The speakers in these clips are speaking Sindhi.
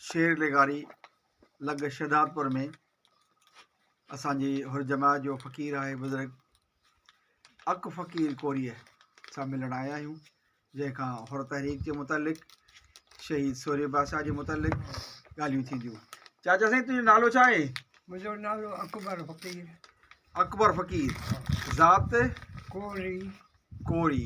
شير لغاري لڳ شھدادپور ۾ اسان جي ھر جماعت جو فقير آھي بزرگ اڪ فقير ڪوريء سان ملڻ آيا آھيون جنھن کان ھر تحريڪ جي متعلق شھيد سوري بادشاھ جي متعلق ڳالھيون ٿينديون چاچا سائين تنھنجو نالو ڇا آھي منھنجو نالو اڪبر فقير اڪبر فقير ذات ڪوري ڪوري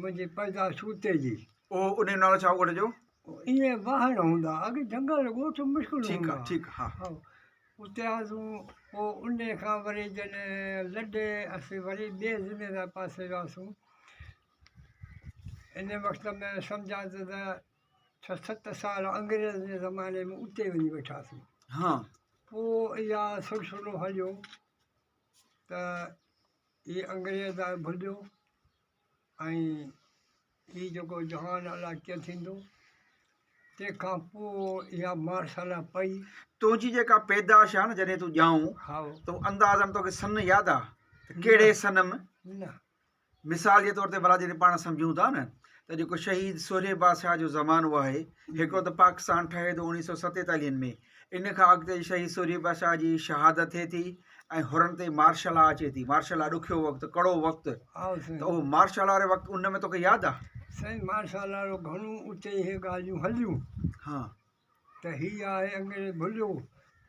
منهنجي پيدا سوتي جي. اهو ان جو نالو ڇا هو ڳوٺ جو؟ ائين واهڻ هوندا اڳ جنگل ڳوٺ مشڪل هوندا ٺيڪ آهي ٺيڪ آهي ها اتي هئاسون پوء ان کان وري جڏهن لڏي اسين وري ٻي ضلعي جي پاسي وياسون ان وقت ۾ سمجهه ته ڇهه ست سال انگريز جي زماني ۾ اتي وڃي ويٺاسون ها پوء اها سلسلو هليو ته هي انگريز آهي ڀليو ۽ هي جيڪو جهان الاء ڪيئن ٿيندو تنهن کان پوء اها مارسالا پئي تنهنجي جيڪا پيدائش آهي نه جڏهن تون ڄائون هائو تو اندازن توکي سن ياد آ ته ڪهڙي سن م نه مثال جي طور تي ڀلا جڏهن پاڻ سمجهون ٿا نه ته جيڪو شهيد سورهيه بادشاهه جو زمانو آهي هڪڙو ته پاڪستان ٺهي ٿو اڻيهه سو ستيتاليهن ۾ ان کان اڳتي شهيد سورهيه بادشاهه جي شهادت ٿئي ٿي ۽ هرڻ تي مارشل لا اچي ٿي مارشل لا ڏکيو وقت ڪڙو وقت ها سائين ته اهو مارشل لا واري وقت ان ۾ توکي ياد آ سائين مارشل لا جو گهڻو اتي اهي ڳالهيون هليون ها ته هي آهي انگريز ڀليو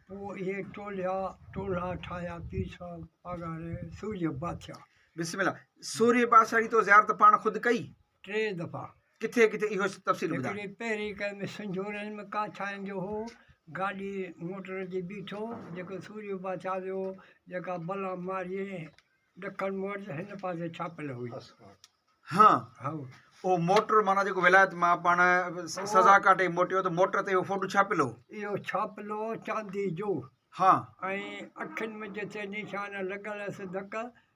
پوء اهي ٽوليا ٽولها ٺاهيا پير صاحب پاڳاري سورهيه بادشاهه بسم الله سورهيه بادشاهه جي تو زيارت پاڻ خود ڪئي ٽي دفعا. ڪٿي ڪٿي اهو تفصيل ٻڌاء. هڪڙي پهرين ڪئي ۾ سنجهورن ۾ ڪا ڇانئن جو هو، گاڏي موٽر جي بيٺو، جيڪو سوريو بادشاهه جو هو، جيڪا بلا ماريي ڏکڻ مورچ هن پاسي ڇاپيل هئي. هان، هائو. اهو موٽر معنيٰ جيڪو ولايت مان پاڻ سزا ڪاٽي موٽيو ته موٽر تي اهو فوٽو ڇاپيل هو. اهو ڇاپيل هو چاندي جو. هان. ۽ اکين ۾ جتي نشان لڳل هيس ڌڪ،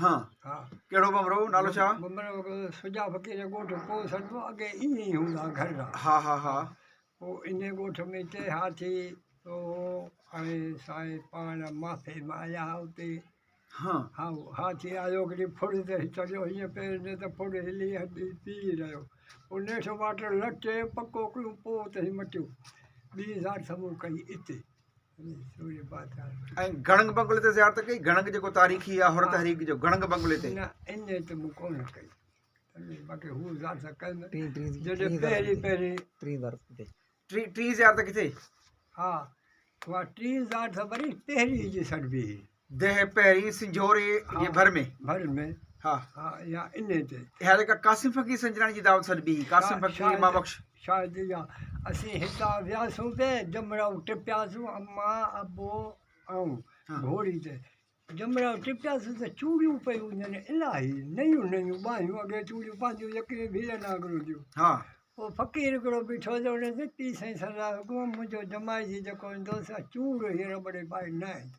ها ڪهڙو ڀمرو نالو ڇا ڀمرو سجا فقير جو ڳوٺ پوء سڏبو اڳي ائين ئي هوندا گهر را ها ها ها پوء ان ڳوٺ ۾ ٽي هاٿي هو هاڻي سائين پاڻ معافي ۾ آيا اتي ها ها هاٿي آيو هڪڙي ڦڙ تي چڙهيو هيئن پير ڏي ته ڦڙ هلي هڏي پي رهيو پوء نيٺ واٽر لٽي پڪو ڪيو پوء اتي مٽيو ٻي زار سمون ڪئي اتي ۽ گڙنگ بنگلي تي زيارت ڪئي گڙنگ جيڪو تاريخي آ حر تحريڪ جو گڙنگ بنگلي تي نه ان ته مون ڪونه ڪئي باقي هو زيارت ڪئي نه ٽي ٽي جڏهن پهري پهري ٽي زيارت ڪٿي ٽي ٽي زيارت ڪٿي ها وا ٽي زيارت وري پهري جي سڏبي ديهه پهرين سنجهوري جي ڀر ۾. ڀر ۾. ها. ها يا انهي تي. اها جيڪا قاسم فقير سنجراڻي جي دعوت سڏبي هئي، قاسم فقير اما بخش. شايد اها. اسين هتان وياسون تي جمرائو ٽپياسون اما، ابو آئون گهوڙي تي جمرائو ٽپياسون ته چوڙيون پيون وڃن الاهي نيون نيون ٻانهيون اڳي چوڙيون پنهنجيون يڪري ڀيل ناگرو جون. ها. پوء فقير هڪڙو بيٺو هو ته هن چيو پير سائين سردار حڪم منهنجو جمائي جي جيڪو ايندو سا چوڙ هيء رٻڙي پائي نه ايندو.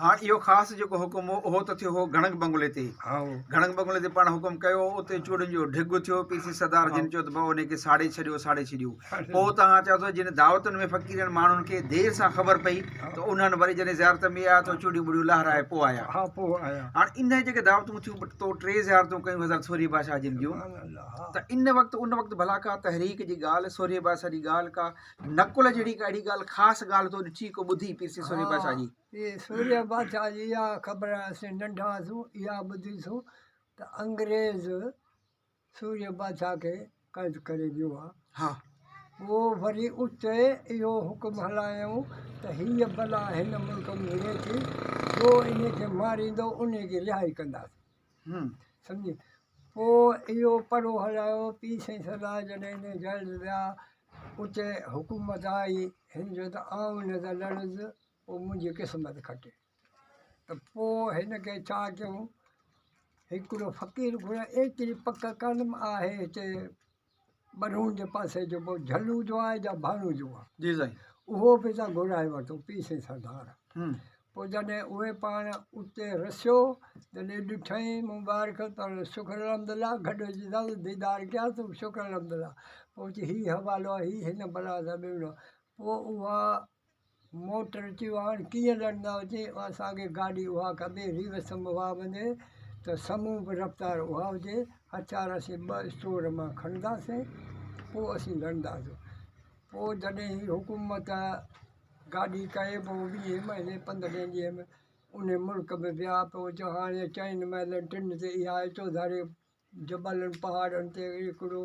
هاڻ اهو خاص جيڪو حڪم هو، اهو ته ٿيو هو گهڻنگ بنگلي تي. گهڻنگ بنگلي تي پاڻ حڪم ڪيو، اتي چوڙين جو ڍڳ ٿيو، پي سي سردار جن چيو ته ڀاء انهي کي ساڙي ڇڏيو، ساڙي ڇڏيو. پوء توهان چاهيو ته جن دعوتن ۾ فقيرن ماڻهن کي دير سان خبر پئي ته انهن وري جڏهن زيارت ۾ آيا ته چوڙيون ٻوڙيون لهرائي پوء آيا. هاڻ انهي جيڪي دعوتون ٿيون بٽ تو ٽي زيارتون ڪيون حضرت سورهيه بادشاهه جن جون ته ان وقت ان وقت ڀلا ڪا تحريڪ جي ڳالهه، سورهيه بادشاهه جي ڳالهه ڪا، نقل جهڙي ڪا اهڙي ڳالهه خاص ڳالهه تو ڏٺي ڪو ٻڌي پير سي سوريء بادشاهه جي؟ پير سوريء بادشاهه جي اها خبر اسين ننڍا هئاسون اها ٻڌي سون ته انگريز سوريء بادشاهه کي قيد ڪري ويو آ. ها. پوء وري اتي اهو حڪم هلايائون ته هيء بلا هن ملڪ ۾ ويهي ٿي، جو انهيء کي ماريندو انهيء جي رهائي ڪنداسين. سمجهي پوء اهو پڙهو هلايو، پير سائين سردار جڏهن هن جهل ويا، اتي حڪومت آئي، هن چيو ته آئون نه ته لڙس، پوء منهنجي قسمت کٽي ته پوء هن کي ڇا ڪيون، هڪڙو فقير گهريو ايتري پڪ ڪرم آهي هتي ٻرهون جي پاسي جو پوء جهلو جو آهي جا ڀانو جو آهي. جي سائين. اهو به تان گهرائي ورتو پي سين سردار. پوء جڏهن اهي پاڻ اتي رسيو جڏهن ڏٺائين مبارڪ تان شڪر الحمدالله گهٽ جي سان ديدار ڪيا تو شڪر الحمدالله پوء چي هي حوالو آهي هي هن بلا سان ڏنو پوء اها موٽر چيو هاڻ ڪيئن لڙندا هجي اها ساڳي گاڏي اها ڪبي ريو سم اها وڃي ته سمون به رفتار اها هجي هٿيار اسين ٻه اسٽور مان کڻنداسين پوء اسين لڙنداسون پوء جڏهن هي حڪومت گاڏي ڪئي به ويهين مهيني پندرهين ڏينهن ۾ ان ملڪ ۾ ويا پوء چيو هاڻي چئن محلن ٽن تي اها چوڌاري جبلن پهاڙن تي هڪڙو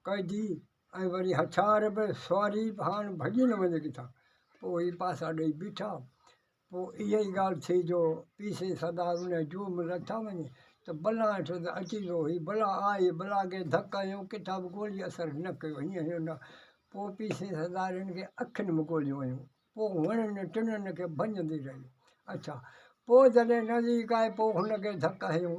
قيدي ۽ وري هٿيار به سواري به هاڻ ڀڄي نه وڃي ڪٿا پوء هي پاسا ڏئي بيٺا پوء اها ئي ڳالهه ٿي جو پيء سين سدا ان جوء ۾ لٿا وڃي ته بلا هيٺ ته اچي جو هي بلا آئي بلا کي ڌڪ هنيو ڪٿا به گولي اثر نه ڪيو هيئن هنيو نه پوء پيء سين سدا رن کي اکين ۾ گوليون هنيون پوء هنن ٽنن کي ڀڃندي رهي اڇا پوء جڏهن نزديڪ آئي پوء هن کي ڌڪ هنيو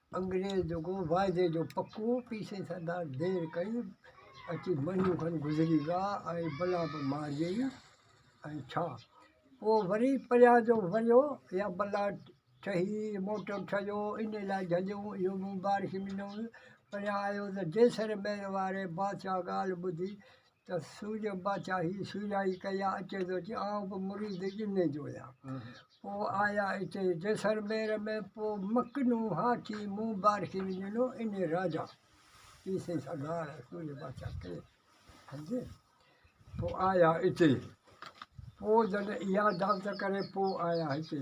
انگريز جيڪو واعدي جو پڪو پي سي سردار دير ڪئي اچي مھينو کن گذري ويا ۽ بلا به مارجي ۽ ڇا پوء وري پريا جو وريو يا بلا ٺھي موٽر ٺھيو ان لاء جھليون اھو مون بارش مھينو پريان آيو ته جيسر مير واري بادشاھ ڳالھ ٻڌي ته سوج باچا هي سوجائي ڪيا اچي ٿو چي آئون به مريد جني جو آهيان پوء آيا اتي جيسلمير ۾ پوء مڪنو هاٿي مون بارڪي وڃنو اني راجا پي سي سگهار سوج باچا ڪي سمجهي پوء آيا اتي پوء جڏهن اها دعوت ڪري پوء آيا هتي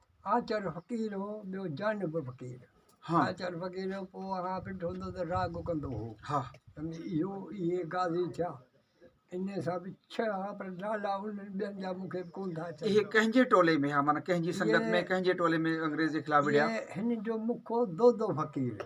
آچر فقير هو، ٻيو جانب به فقير. آچر فقير هو، پوء اها پنڊ هوندو ته راڳ ڪندو هو. سمجهي؟ اهو اهي قاضي ٿيا. انهيء سان به ڇهه هئا، پر نالا انهن ٻين جا مون کي به ڪونه ٿا اچن. اهي ڪنهن جي ٽولي ۾ هئا؟ معنيٰ ڪنهن جي سنگت ۾، ڪنهن جي ٽولي ۾ انگريز جي خلاف وڙهيا؟ هن جو مکو دودو فقير.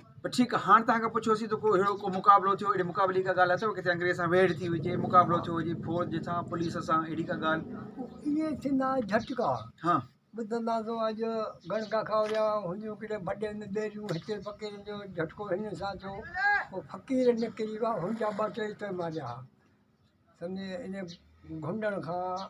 پر ٺيڪ آ هاڻ توهان کان پڇيوسي ته ڪو اهڙو ڪو مقابلو ٿيو اهڙي مقابلي جي ڪا ڳالهه اٿو ڪٿي انگريز سان ويڙهه ٿي هجي مقابلو ٿيو هجي فوج جي سان پوليس سان اهڙي ڪا ڳالهه اهي ٿيندا جهٽڪا ها ٻڌنداسو اڄ گڻڪا کان ويا هنيون ڪيڏي بڏي نه ٻيريون هتي فقيرن جو جهٽڪو هنن سان ٿيو پوء فقير نڪري ويا هن جا ٻه ٽي ته ماريا سمجهي ان گهنڊڻ کان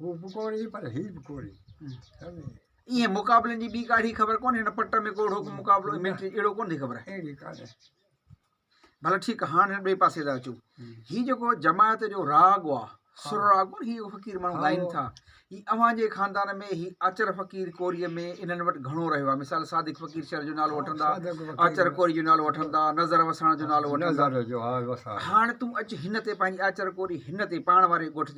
هو به ڪوري پر هي به ڪوري سمجهي ائين مقابلن جي ٻي ڪاڙهي خبر ڪونهي هن پٽ ۾ ڪوڙهو ڪو مقابلو اهڙو ڪونهي خبر آهي اهڙي ڪانهي ڀلا ٺيڪ هاڻ هن ٻئي پاسي ٿا اچو هي جيڪو جماعت جو راڳ آ سر راڳ ڪون هي فقير ماڻهو ڳائين ٿا هي اوهان جي خاندان ۾ هي آچر فقير ڪوري ۾ انهن وٽ گهڻو رهيو آ مثال صادق فقير شهر جو نالو وٺندا آچر ڪوري جو نالو وٺندا نظر وساڻ جو نالو وٺندا هاڻ تون اچ هن تي پنهنجي آچر ڪوري هن تي پاڻ واري ڳوٺ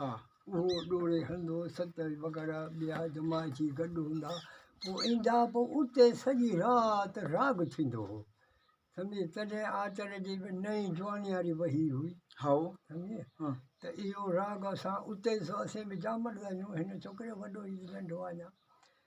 ها، اهو ڏوڙي هلندو، ستر وغيره ٻيا جماعتي گڏ هوندا، پوء ايندا، پوء اتي سڄي رات راڳ ٿيندو هو، سمجهيئي، تڏهن آچر جي به نئين جوانياري وهي هئي، سمجهيئي، ته اهو راڳ اسان اتي، سو اسين به جامڙ لاهيون، هن ڇوڪري وڏو هي ته ننڍو آهي اڃا.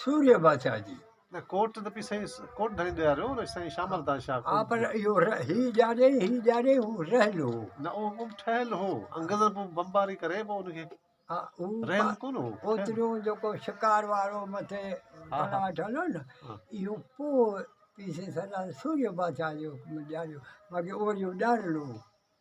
سوريء بادشاهه جي. نه ڪوٽ ته پي سائين ڪوٽ ڌڻي ڏياريو نه سائين شام الطاف شاهه ڪوٽ. آ پر اهو ر هي ڄاڻي هي ڄاڻي هو رهيل هو. نه اهو ڪو ٺهيل هو انگريزن پو بمباري ڪري پو ان کي ها هو رهيل ڪون هو. اوتريون جيڪو شڪار وارو مٿي تلاش هليو نه اهو پو پي سي سردار سوريء بادشاهه جي حڪم ڏياريو باقي اهو اهو ڄاڻيل هو.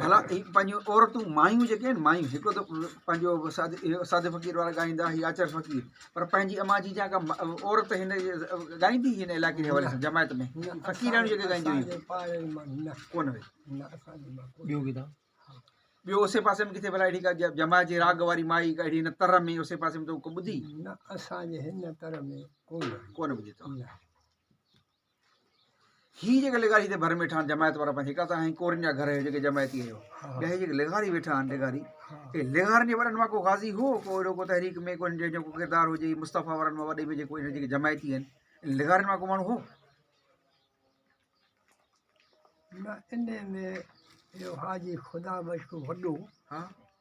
ڀلا هي پنهنجون عورتون مايون جيڪي آهن مايون هڪ ته پنهنجو ساڌ فقير وارا ڳائيندا هي آچر فقير پر پنهنجي اما جي جا ڪا عورت هن ڳائيندي هن علائقي جي حوالي سان جماعت ۾ فقيرياڻيون جيڪي ڳائينديون هيون ڪو نه ٻيو ڪيڏا ٻيو اسي پاسي ۾ ڪٿي ڀلا اهڙي ڪا جماعت جي راڳ واري مائي ڪا اهڙي هن تر ۾ اسي پاسي ۾ تو ڪو ٻڌي نه اسان جي هن تر ۾ ڪو نه ڪو نه ٻڌي تو هي جيڪي لغاري هتي ڀر ۾ ويٺا آهن جماعت وارا پنهنجي ڪا ته آهن ڪورين جا گهر جيڪي جماعتي هيو ٻيا هي جيڪي لغاري ويٺا آهن لغاري هي لغارن جي وڏن مان ڪو غازي هو ڪو اهڙو ڪو تحريڪ ۾ ڪو جنهن جو ڪو ڪردار هجي مصطفيٰ وارن مان وڏي ۾ جيڪو هن جيڪي جماعتي آهن لغارن مان ڪو ماڻهو هو نه ان ۾ اهو حاجي خدا بخش ڪو وڏو ها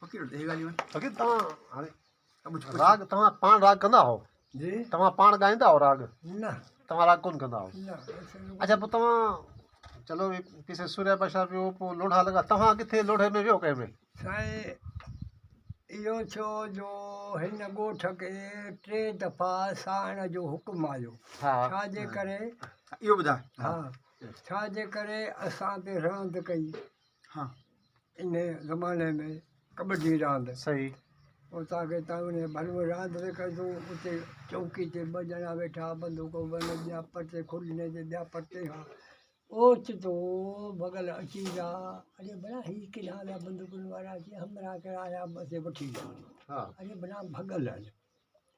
فقير توهان هاڻي راڳ توهان پاڻ راڳ ڪندا هئو جي توهان پاڻ ڳائيندا هئو راڳ نه توهان راڳ ڪونه ڪندا هئو نه اچا پوء توهان چلو وي پيسي سوريا بادشاهه ويو پوء لوڙها لڳا توهان ڪٿي لوڙهي ۾ ويو ڪنهن ۾ سائين اهو ڇو جو هن ڳوٺ کي ٽي دفعا ساهڻ جو حڪم آيو ها ڇا جي ڪري اهو ٻڌاء ها ڇا جي ڪري اسان تي رهند ڪئي ها. ان زماني ۾ ڪٻڊي راند. صحيح. اتان کي اتان وڃي ڀليون راند به ڪيون اتي چوڪي تي ٻه ڄڻا ويٺا بندوقون بنهه ٻيا پرتي کلني تي ٻيا پرتي کان اوچتو ڀڳل اچي ويا اڙي ڀلا هي ڪيڏانهن ويا بندوقن وارا اچي همراهه ڪري آيا بس هي وٺي ويا اڙي ڀلا ڀڳل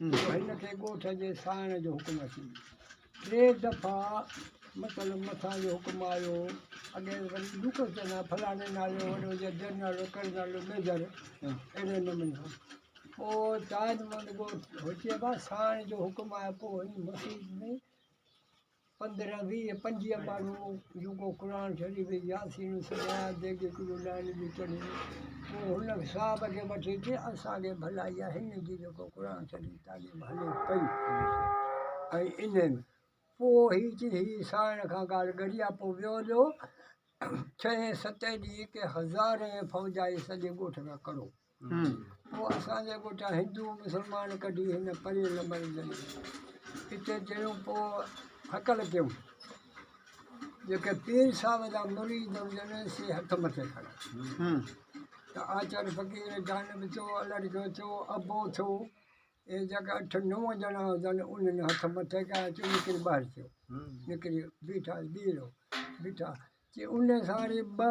هن کي ڳوٺ جي ساڻ جو حڪم اچي ٽي دفعا مطلب مٿان جو حڪم آيو اڳي وري لوڪس چنا فلاڻي نالي وڏو جا جنرل ڪرنل ميجر اهڙي نموني سان پوء تاج محمد ڳوٺ هوچي با ساڻ جو حڪم آيو پوء هن مسجد ۾ پندرهن ويهه پنجويهه ماڻهو جون ڪو قرآن شريف ۽ ياسين سمايا ديڳ ڪلو ڏائڻ جون چڙهيون پوء هن صاحب کي وٺي چي اسان کي ڀلا اها هن جي جيڪو قرآن شريف تعليم هلي پئي ۽ انهن پوء هي چي هي سائڻ کان ڪال ڳڙيا پوء ويو جو ڇهين ستين ڏينهن ڪنهن هزارين فوج آئي سڄي ڳوٺ کان ڪڙو پوء اسان جي ڳوٺان هندو مسلمان ڪڍي هن پري لمر جي اتي جيون پوء هڪل ڪيون جيڪي پير صاحب جا مريد هجن سي هٿ مٿي کڻن ته آچر فقير جانب چو الڙ جو چو ابو ٿو اي جيڪا اٺ نو ڄڻا هجن انهن هٿ مٿي ڪيا چو نڪري ٻاهر ٿيو نڪري بيٺا ٻيرو بيٺا چي ان ساري ٻه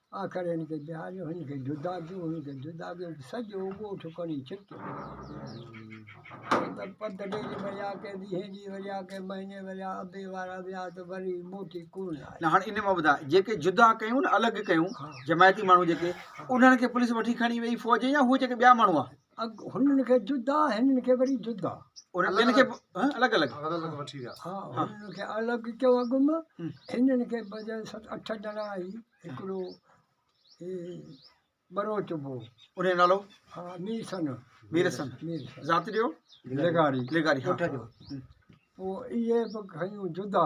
آخر هن کي بيهاريو، هن کي جدا ڪيو، هن کي جدا ڪيو ته سڄو ڳوٺ کڻي ڇڪيو. مطلب پڌ ڊيلي وريا ڪي ڏينهين ڏينهن وريا ڪي مهيني وريا ابي وارا ويا ته وري موٽي ڪو نه آيا. نه هاڻ ان مان ٻڌاء جيڪي جدا ڪيون نه الڳ ڪيون جماعتي ماڻهو جيڪي انهن کي پوليس وٺي کڻي ويئي فوج يا هو جيڪي ٻيا ماڻهو هئا. اڳ هنن کي جدا هنن کي وري جدا ان ٻن کي الڳ الڳ الڳ وٺي ويا ها هنن کي الڳ ڪيو اڳ ۾ هنن کي بجاء ست اٺ ڄڻا آهي هڪڙو هي بروچ بو ان جو نالو ها مير سن مير سن مير ذات جو لغاري لغاري ها پوء اهي به کيون جدا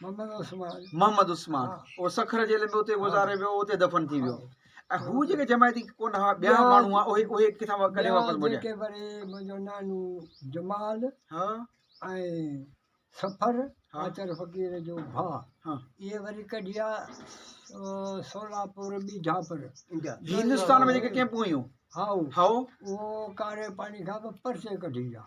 محمد عثمان اهو سکر جيل ۾ اتي گذاري ويو اتي دفن ٿي ويو ۽ هو جيڪي جماعتي ڪون هئا ٻيا ماڻهو هئا اهي اهي ڪٿان ڪڏهن واپس مڙيا جيڪي وري منهنجو نانو جمال ها ۽ سفر آچر فقير جو ڀا ها اهي وري ڪڍيا سولاپور ٻيجا پر هندستان ۾ جيڪي ڪيمپون هيون هاو هاو اهو ڪاري پاڻي کان پرچي ڪڍي ويا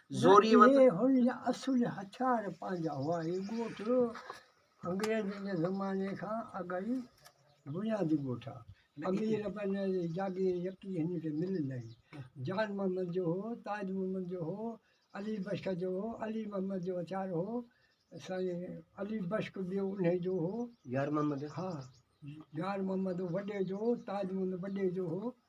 زوريء وت. اهي هن جا اصولي هٿيار پنهنجا هئا. هي ڳوٺ انگريزن جي زماني کان اڳ ئي بنيادي ڳوٺ آ. امير پنهنجي جي جاگير يڪي هن کي مليل آهي. جان محمد جو هو، تاج محمد جو هو، علي بشڪ جو هو، علي محمد جو هٿيار هو، سائين علي بشڪ ٻيو انهي جو هو. يار محمد. ها يار محمد وڏي جو هو، تاج محمد وڏي جو هو،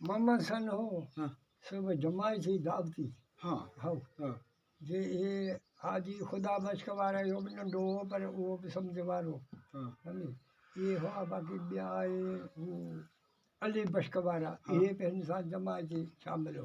محمد سن هو سو به جماعي ٿي دعوتي هو جي اهي حاجي خدا بخش وارا اهو به ننڍو هو پر اهو به سمجهه وارو سمجهي اهي هئا باقي ٻيا اهي علي بخش وارا اهي به هن سان جماعي ٿي شامل هئا